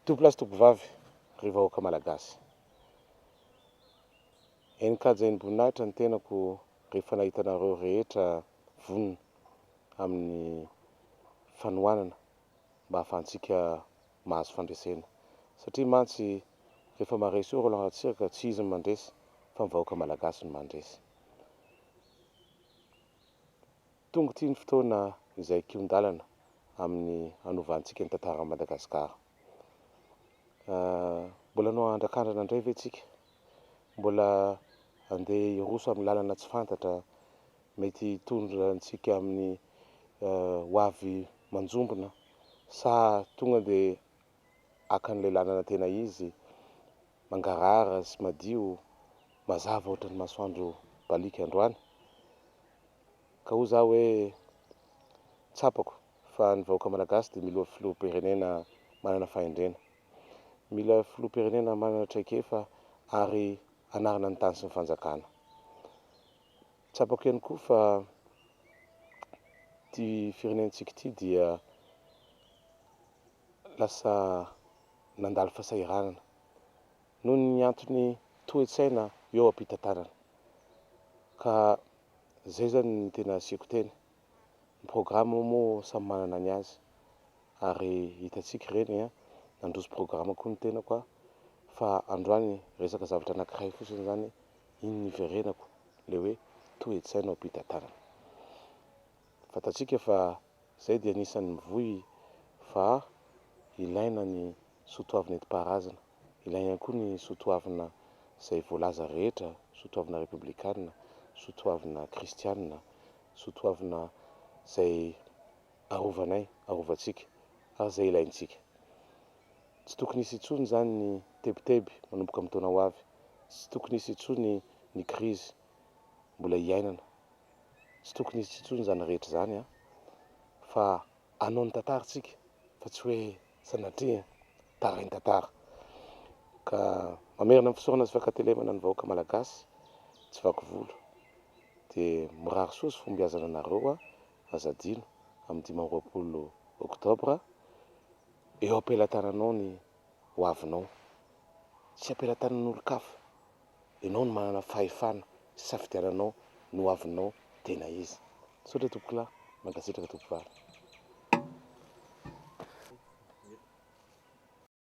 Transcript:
Tompolahy sy tompovavy, ry vahoaka Malagasy. Eny kajain'ny boninahitra ny tenako rehefa nahita anareo rehetra vonona amin'ny fanohanana mba hahafahantsika mahazo fandresena. Satria mantsy rehefa maharesy eo Roland Ratsiraka, tsy izy no mandresy fa ny vahoaka Malagasy no mandresy. Tonga ity ny fotoana izay kihon-dalana amin'ny hanovantsika ny tantaran'i Madagasikara. Mbola hanao andrakandrana indray ve tsika? Mbola handeha hiroso amin'ny lalana tsy fantatra mety hitondra antsika amin'ny ho avy manjombona sa tonga dia haka an'ilay lalana tena izy, mangarahara sy madio, mazava ohatran'ny masoandro baliaka androany. Ka hoy za hoe tsapako fa ny vahoaka Malagasy dia milo filoham-pirenena manana fahendrena. Mila filoham-pirenena manana traikefa ary anarina ny tany sy ny fanjakana. Tsapako ihany koa fa ity firenentsika ity dia lasa nandalo fasahiranana noho ny antony toe-tsaina eo am-pitantanana ka zay zany ny tena asiako teny, ny programme moa samy manana ny azy ary hitantsika ireny an, nandroso programme koa ny tenako an, fa androany resaka zavatra anankiray fotsiny zany iny niverenako le hoe toe-tsaina ao am-pitantanana, fantatsika fa Izay dia anisan'ny mivoy fa ilaina ny soa toavina entim-paharazana. Ilaina ihany koa ny soa toavina izay voalaza rehetra, soa toavina repoblikana, soa toavina kristiana, soa toavina izay arovanay, arovantsika ary izay ilaintsika. Tsy tokony hisy intsony izany ny tebiteby manomboka amin'ny taona ho avy. Tsy tokony hisy intsony ny krizy mbola hiainana tsy tokony hisy intsony izany rehetra izany an! fa hanao ny tantara isika fa tsy hoe sanatria tarain-tantara ka mamerina ny fisaorana sy fankatelemana ny vahoaka malagasy tsy vaky volo dia mirary soa sy fombiazana anareo an! aza adino amin'ny dimy amby roapolo oktobra eo am-pelatananao ny ho avinao tsy am-pelatanan'olon-kafa Ianao no manana fahefana hisafidiananao ny ho avinao tena izy. Misaotra tompokolahy. Mankasitraka tompoko vavy.